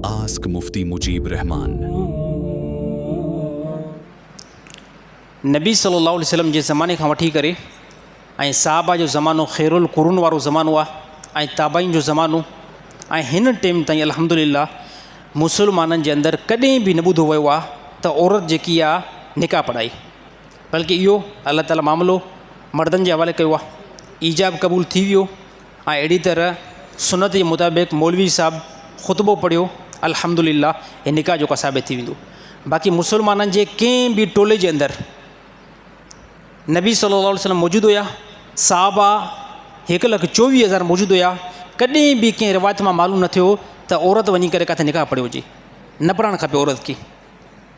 Ask Mufti Mujeeb Rehman. نبي صلي الله عليه وسلم جي زماني کان وٺي ڪري ۽ صحابه جو زمانو خير القرون وارو زمانو آ ۽ تابعين جو زمانو ۽ هن ٽيم تائين الحمد لله مسلمانن جي اندر ڪڏهن به نه ٻڌو ويو آ ته عورت جيڪي آ نڪاح پڙهائي بلڪه اهو الله تعالي معاملو مردن جي حوالي ڪيو آ ايجاب قبول ٿي ويو ۽ اهڙي طرح سنت جي مطابق مولوي صاحب خطبو پڙهيو الحمد لله هي نڪاح جو ڪا ثابت ٿي ويندو باقي مسلمانن جي ڪنهن به ٽولي جي اندر نبي صلي الله عليه وسلم موجود هيا صحابا هڪ لک چويهه هزار موجود هيا ڪڏهن به ڪنهن روايت مان معلوم نه ٿيو ته عورت وڃي ڪري ڪاٿي نڪاح پڙهيو هجي نه پڙهڻ کپي عورت کي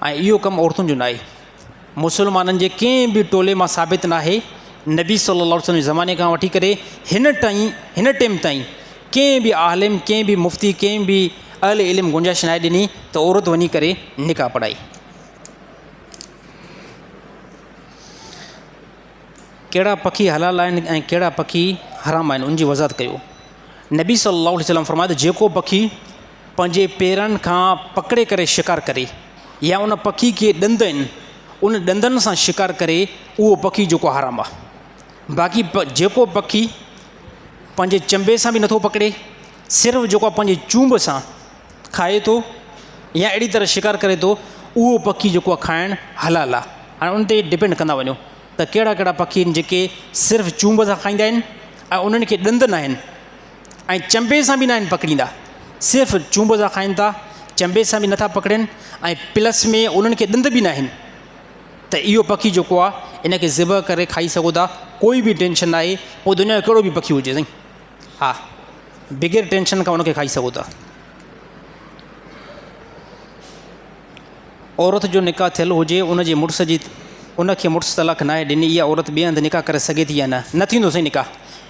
۽ اهو ڪم عورتن جو ناهي. مسلمانن جي ڪنهن به ٽولي مان ثابت ناهي، نبي صلّي اللّٰه عليه وسلّم جي زماني کان وٺي ڪري هن ٽائين هن ٽيم تائين ڪنهن به عالم، ڪنهن به مفتي، ڪنهن به اهل علم گنجائش ناهي ڏني ته عورت وڃي ڪري نڪاح پڙهائي. ڪهڙا پکي حلال آهن ۽ ڪهڙا پکي حرام آهن، ان جي وضاحت ڪيو. نبي صلّي اللّٰه عليه وسلّم فرمايو ته جيڪو پکي، پنهنجي پيرن کان پڪڙي ڪري شڪار ڪري يا ان پکي کي ڏند آهن ان ڏندن سان شڪار ڪري اهو پکي جيڪو حرام آ باقي جيڪو پکي پنهنجي چنبي سان بي نٿو پڪڙي صرف جيڪو آ پنهنجي چونب سان کائي ٿو يا اهڙي طرح شڪار ڪري ٿو اهو پکي جيڪو آ کائڻ حلال آ هاڻي ان تي ڊپينڊ ڪندا وڃو ته ڪهڙا ڪهڙا پکي آهن جيڪي صرف چونب سان کائيندا آهن ۽ انهن کي ڏند ناهن ۽ چنبي سان به ناهن پڪڙيندا صرف چونب سان کائن ٿا چنبي سان بي نٿا پڪڙين ۽ پلس ۾ انهن کي ڏند به ناهن ته اهو پکي جيڪو آهي ان کي ذبح ڪري کائي سگهو ٿا ڪوئي به ٽينشن نه آهي پوء دنيا جو ڪهڙو به پکي هجي سائين ها بغير ٽينشن کان انکي کائي سگهو ٿا عورت جو نڪاح ٿيل هجي ان جي مڙس جي ان کي مڙس طلاق ناهي ڏني اها عورت ٻئي هنڌ نڪاح ڪري سگهي ٿي يا نه نه ٿيندو سائين نڪاح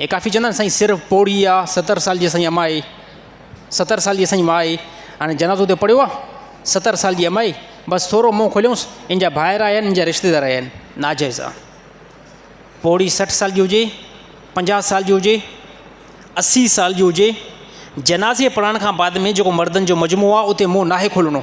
اي ڪافي چوندا آهن سائين سر پوڙهي آ ستر سال جي سائين امائي ستر سال جي سائين مائي هاڻي جنازو تي پڙهيو آ ستر سال جي امائي بس ٿورو منهن کوليونس ان جا ڀائر آيا آهن ان جا رشتيدار آيا آهن ناجائز آ پوڙهي سٺ سال جي هجي پنجاهه سال جي هجي اسي سال جي هجي جنازي پڙهڻ کان بعد ۾ جيڪو مردن جو مجموعو آ اتي منهن ناهي کولڻو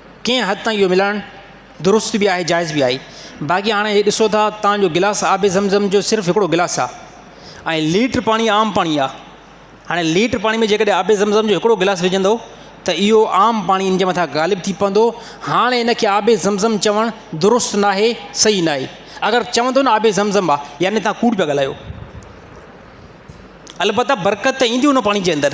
ڪنهن حد تائين اهو ملائڻ درست به آهي جائز به آهي باقي هاڻي هي ڏسو ٿا تان جو گلاس آب زم زم جو صرف هڪڙو گلاس آ ۽ ليٽر پاڻي عام پاڻي آ هاڻي ليٽر پاڻي ۾ جيڪڏهن آب زم زم جو هڪڙو گلاس وجهندو ته اهو عام پاڻي ان جي مٿان غالب ٿي پوندو هاڻي ان کي آب زم زم چوڻ درست نه آهي صحيح نه آهي اگر چوندو نه آب زم زم آ يعني تان ڪوڙ پيا ڳالهايو البته برڪت ته ايندي ان پاڻي جي اندر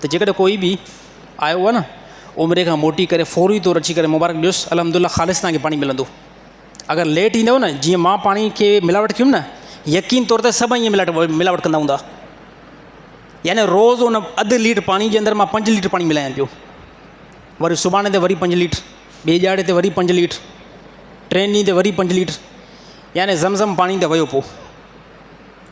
ته جيڪڏهن ڪوئي به آيو هو نه عمري کان موٽي ڪري فوري طور اچي ڪري مبارڪ ڏيوس الحمد لله خالص تنهنکي پاڻي ملندو اگر ليٽ ايندو نه جيئن ماڻهو پاڻي کي ملاوٽ ڪيم نه يقين طور ته سڀ ائين ملاٽ ملاوٽ ڪندا هوندا يعني روز ان اڌ ليٽر پاڻي جي اندر مان پنج ليٽر پاڻي ملايان پيو وري سڀاڻي تي وري پنج ليٽر ٻي ڄاڙي تي وري پنج ليٽر ٽين ڏينهن تي وري پنج ليٽر يعني زم زم پاڻي ته ويو پو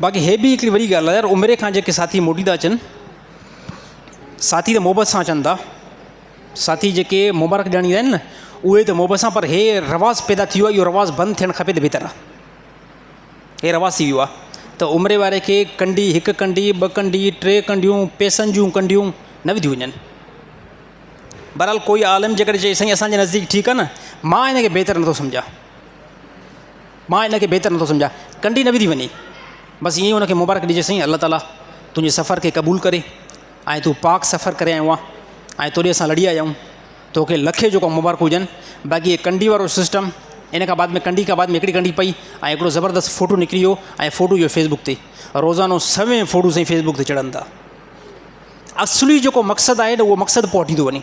باقي هي به هڪڙي وڏي ڳالهه آهي يار عمري کان جيڪي ساٿي موٽي ٿا اچن ساٿي ته محبت سان اچن ٿا ساٿي جيڪي مبارڪ ڏيڻ ايندا آهن نه اهي ته محبت سان پر هي رواز پيدا ٿي ويو آهي اهو رواز بند ٿيڻ کپي ته بهتر آهي هي رواز ٿي ويو آهي ته عمري واري کي ڪنڊي هڪ ڪنڊي ٻه ڪنڊي ٽي ڪنڊيون پيسن جون ڪنڊيون نه وڌيون وڃن بهرحال ڪوئي عالم جيڪڏهن چئي سائين اسانجي نزديڪ ٺيڪ آهي نه مان هن کي بهتر نٿو سمجهان مان ان کي بهتر نٿو سمجهان. ڪنڊي نه وڌي وڃي. بس ائين ئي ان کي مبارڪ ڏجي سائين الله تعاليٰ تنهنجي سفر کي قبول ڪري ۽ تون پاڪ سفر ڪري آيو آهين ۽ توڏي اسان لڙي آيا آهيون توکي لکين جوڪا مبارڪون هجن باقي هي ڪنڊي وارو سسٽم ان کان بعد ۾ ڪنڊي کان بعد ۾ هڪڙي ڪنڊي پئي ۽ هڪڙو زبردست فوٽو نڪري ويو ۽ فوٽو جو فيسبوڪ تي روزانو سوين فوٽو سائين فيسبوڪ تي چڙهن ٿا اصلي جيڪو مقصد آهي نه اهو مقصد پهٽيندو وڃي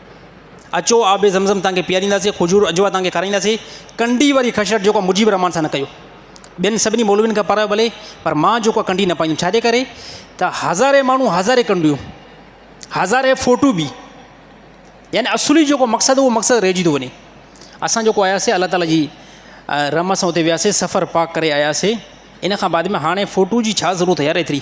اچو آب زمزم تنهنکي پيارينداسين، کجور اجوا تنهنکي کارائينداسين، ڪنڊي واري خشرت جيڪو مجيب الرحمان سان نه ڪيو. ٻين سڀني مولوين کان پرايو ڀلي پر مان جيڪو آ ڪنڊي نه پائيندم ڇاجي ڪري ته هزارين ماڻهو هزارين ڪنڊيون هزارين فوٽو به يعني اصلي جيڪو مقصد اهو مقصد رهجي ٿو وڃي اسان جيڪو آياسي الله تعالي جي رحمت سان اتي وياسي سفر پاڪ ڪري آياسي ان کان بعد ۾ هاڻي فوٽو جي ڇا ضرورت يار ايتري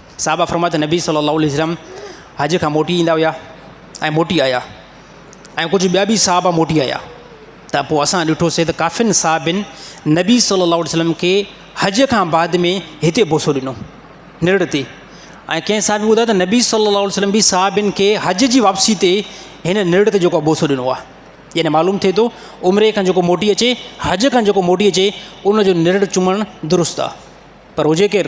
صحابه فرمايو ته نبي صلّي اللّٰه عليه وسلّم حج کان موٽي ايندا هيا ۽ موٽي آيا ۽ ڪجهه ٻيا به صحابه موٽي آيا ته پوء اسان ڏٺوسي ته ڪافين صحابين نبي صلّي اللّٰه عليه وسلّم کي حج کان بعد ۾ هتي بوسو ڏنو نرڙ تي ۽ ڪنهن صحابي ٻڌايو ته نبي صلّي اللّٰه عليه وسلّم به صحابين کي حج جي واپسي تي هن نرڙ تي جيڪو بوسو ڏنو آهي يعني معلوم ٿئي ٿو عمري کان جيڪو موٽي اچي حج کان جيڪو موٽي اچي ان جو نرڙ چمڻ درست آهي پر هجي ڪير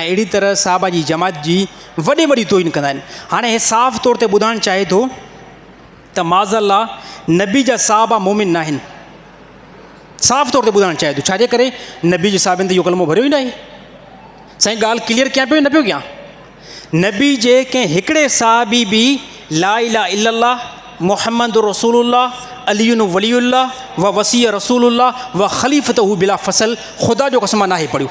۽ اهڙي طرح صحابه جي جماعت جي وڏي وڏي توهين ڪندا آهن هاڻي هي صاف طور تي ٻڌائڻ چاهي ٿو ته معاذ الله نبي جا صحابه مومن نه آهن صاف طور تي ٻڌائڻ چاهي ٿو ڇا جي ڪري نبي جي صحابين تي اهو ڪلمو ڀريو ئي نه آهي سائين ڳالهه ڪليئر ڪيان پيو نه پيو ڪيان نبي جي ڪنهن هڪڙي صحابي به لا الا الا الله محمد رسول الله علي ولي الله و وسيع رسول الله و خليفته بلا فصل خدا جو قسم نه آهي پڙهيو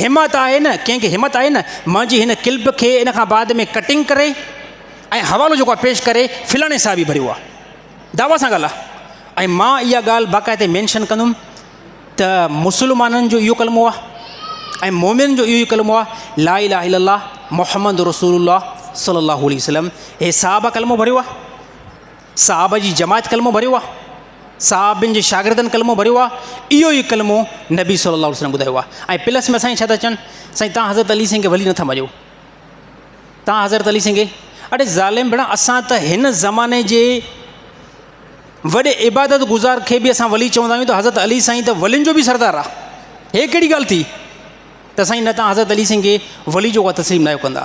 همت آهي نه، ڪنهن کي همت آهي نه، مان جي هن ڪلپ کي ان کان بعد ۾ ڪٽنگ ڪري ۽ حوالو جيڪو آهي پيش ڪري فلاڻي صاحب ئي ڀريو آهي. دعويٰ سان ڳالهه آهي ۽ مان اها ڳالهه باقاعدي مينشن ڪندم ته مسلمانن جو اهو ڪلمو آهي ۽ مومنن جو اهو ئي ڪلمو آهي لا اله الا الله محمد رسول الله صلي الله عليه وسلم هي صاحب ڪلمو ڀريو آهي. صحابه جي جماعت ڪلمو ڀريو آهي، صحابين جي شاگردن ڪلمو ڀريو آهي، اهو ئي ڪلمو نبي صلي الله عليه وسلم ٻڌايو آهي ۽ پلس ۾ سائين ڇا ٿا چون سائين تان حضرت علي سنگهه ڀلي نٿا مڃو تان حضرت علي سنگهه اڙي ظالم ڀيڻا اسان ته هن زماني جي وڏي عبادت گذار کي به اسان ولي چوندا آهيون ته حضرت علي سائين ته ولين جو به سردار آهي هي ڪهڙي ڳالهه ٿي ته سائين نه تان حضرت علي سنگهه ولي جو ڪا تسليم نه آهيو ڪندا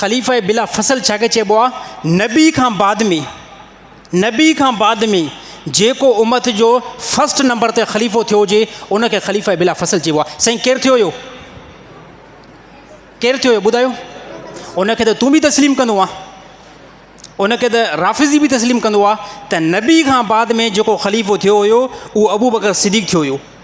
خليفه بلا فصل ڇا کي چئبو آ نبي کان بعد ۾ نبي کان بعد ۾ جيڪو امت جو فرسٽ نمبر تي خليفو ٿيو هجي ان کي خليفه بلا فصل چئبو آ سائين ڪير ٿيو هيو ڪير ٿيو هيو ٻڌايو ان کي ته تون به تسليم ڪندو آ ان کي ته رافضي به تسليم ڪندو آ ته نبي کان بعد ۾ جيڪو خليفو ٿيو هيو اهو ابو بڪر صديق ٿيو هيو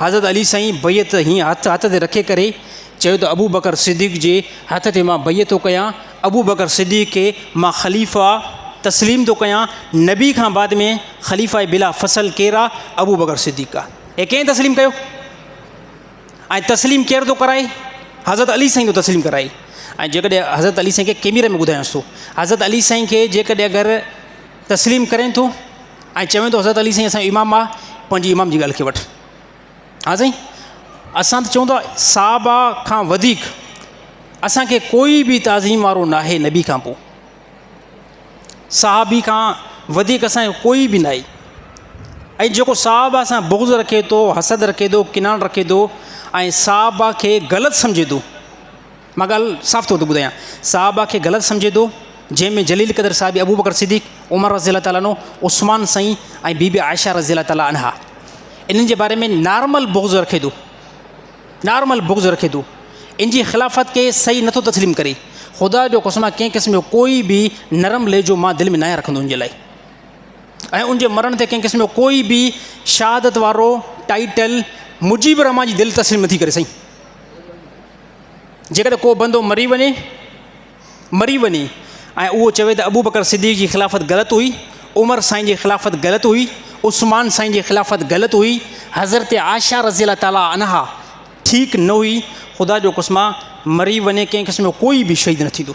حضرت علي سائين بيعت هيئن هٿ هٿ تي رکي ڪري چيو ته ابوبڪر صديق جي هٿ تي مان بيعت ٿو ڪيان، ابوبڪر صديق کي مان خليفه تسليم ٿو ڪيان، نبي کان بعد ۾ خليفه بلا فصل ڪير آ؟ ابوبڪر صديق آ، هي ڪنهن تسليم ڪيو؟ ۽ تسليم ڪير ٿو ڪرائي؟ حضرت علي سائين ٿو تسليم ڪرائي ۽ جيڪڏهن حضرت علي سائين کي ڪيميري ۾ ٻڌايانس ٿو حضرت علي سائين کي جيڪڏهن اگر تسليم ڪرين ٿو ۽ چوين ٿو حضرت علي سائين اسانجو امام آ پنهنجي امام جي ڳالهه کي وٺ ها سائين اسان ته چون ٿا صحابه کان وڌيڪ اسانکي ڪوئي بي تعظيم وارو نه آهي نبي کان پوء صحابي کان وڌيڪ اسانجو ڪوئي بي ناهي ۽ جيڪو صحابه سان بغض رکي ٿو حسد رکي ٿو ڪناڻ رکي ٿو ۽ صحابه کي غلط سمجهي ٿو مان ڳالهه صاف طور تي ٻڌايان، صحابه کي غلط سمجهي ٿو، جنهن ۾ جليل قدر صحابي ابوبڪر صديق، عمر رضي الله تعالٰي عنه، عثمان سائين ۽ بيبي عائشه رضي الله تعالٰي عنها انهن جي باري ۾ نارمل بغض رکي ٿو، نارمل بغض رکي ٿو، ان جي خلافت کي صحيح نٿو تسليم ڪري، خدا جو قسم آ ڪنهن قسم جو ڪوئي به نرم لهجو مان دل ۾ ناهيان رکندو ان جي لاء ۽ ان جي مرڻ تي ڪنهن قسم جو ڪوئي به شهادت وارو ٽائيٽل مجيب الرحمان جي دل تسليم نٿي ڪري سائين. جيڪڏهن ڪو بندو مري وڃي، مري وڃي، ۽ اهو چوي ته ابوبڪر صديق جي خلافت غلط هئي، عمر سائين جي خلافت غلط هئي، عثمان سائين جي خلافت غلط هئي، حضرت عائشه رضي الله تعالٰي عنها ٺيڪ نه هئي، خدا جو قسم آهي مري وڃي ڪنهن قسم جو ڪوئي به شهيد نه ٿيندو.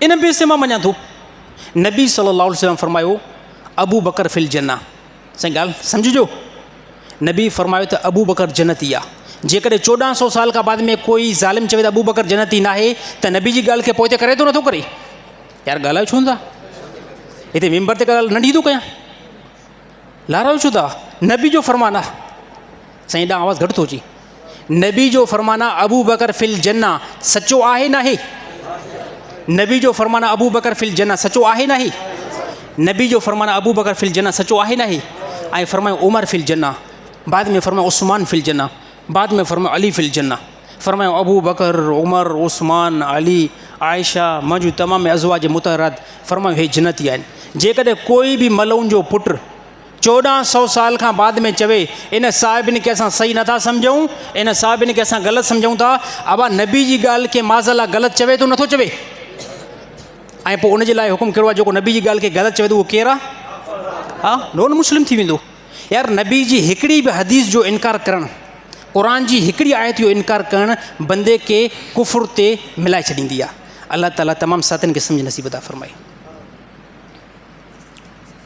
ان بي سي مان مڃان ٿو. نبي صلي الله عليه وسلم فرمايو ابو بڪر في الجنه سائين ڳالھ سمجھجو نبي فرمايو ته ابو بڪر جنتي آ جيڪڏهن چوڏهن سو سال کا بعد ۾ ڪوئي ظالم چوي ته ابو بڪر جنتي ناهي ته نبي جي ڳالھ کي پوئتي ڪري ٿو نٿو ڪري يار ڳالهايو ڇو ٿا هتي ممبر تي ڳالهه ننڍي ٿو ڪيان لارو ڇو ٿا نبي جو فرمان آ سائين ادا آواز گهٽ ٿو اچي. نبي جو فرمان آ ابو بکر في الجنه سچو آهي ناهي نبي جو فرمان آ ابو بکر في الجنه سچو آهي ناهي نبي جو فرمان آ ابو بکر في الجنه سچو آهي ناهي ۽ فرمايو عمر في الجنه بعد ۾ فرمايو عثمان في الجنه بعد ۾ فرمايو علي في الجنه فرمايو ابو بکر عمر عثمان علي عائشه منهنجون تمام ازواج متحرات فرمايو هي جنتي آهن جيڪڏهن ڪوئي به ملعون جو پٽ چوڏهن سؤ سال کان بعد ۾ چوي ان صاحبن کي اسان صحيح نٿا سمجهون ان صاحبن کي اسان غلط سمجهون ٿا ابا نبي جي ڳالهه کي معاذ الله غلط چوي ٿو نٿو چوي ۽ پوء ان جي لاء حڪم ڪهڙو آهي جيڪو نبي جي ڳالهه کي غلط چوي ٿو اهو ڪير آهي ها نون مسلم ٿي ويندو يار نبي جي هڪڙي به حديث جو انڪار ڪرڻ قرآ جي هڪڙي آيت جو انڪار ڪرڻ بندي کي ڪفر تي ملائي ڇڏيندي آهي الله تعالیٰ تمام ساتن کي سمجھ نصيب ادا فرمائي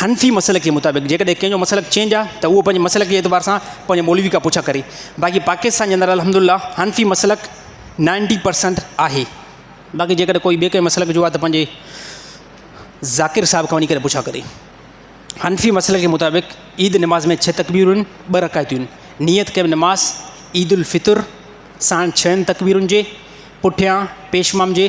حنفي مسلڪ جي مطابق جيڪڏهن ڪنهن جو مسلڪ چينج آ ته اهو پنهنجي مسلڪ جي اعتبار سان پنهنجي مولوي کان پڇا ڪري باقي پاڪستان جي اندر الحمد الله حنفي مسلڪ نائنٽي پرسنٽ آهي باقي جيڪڏهن ڪوئي ٻي ڪنهن مسلڪ جو آ ته پنهنجي ذاڪر صاحب کان وڃي ڪري پڇا ڪري حنفي مسلڪ جي مطابق عيد نماز ۾ ڇهه تڪبيرون ٻه رڪايتون نيت ڪيم نماز عيد الفطر ساڻ ڇهن تڪبيرن جي پٺيان پيشمام جي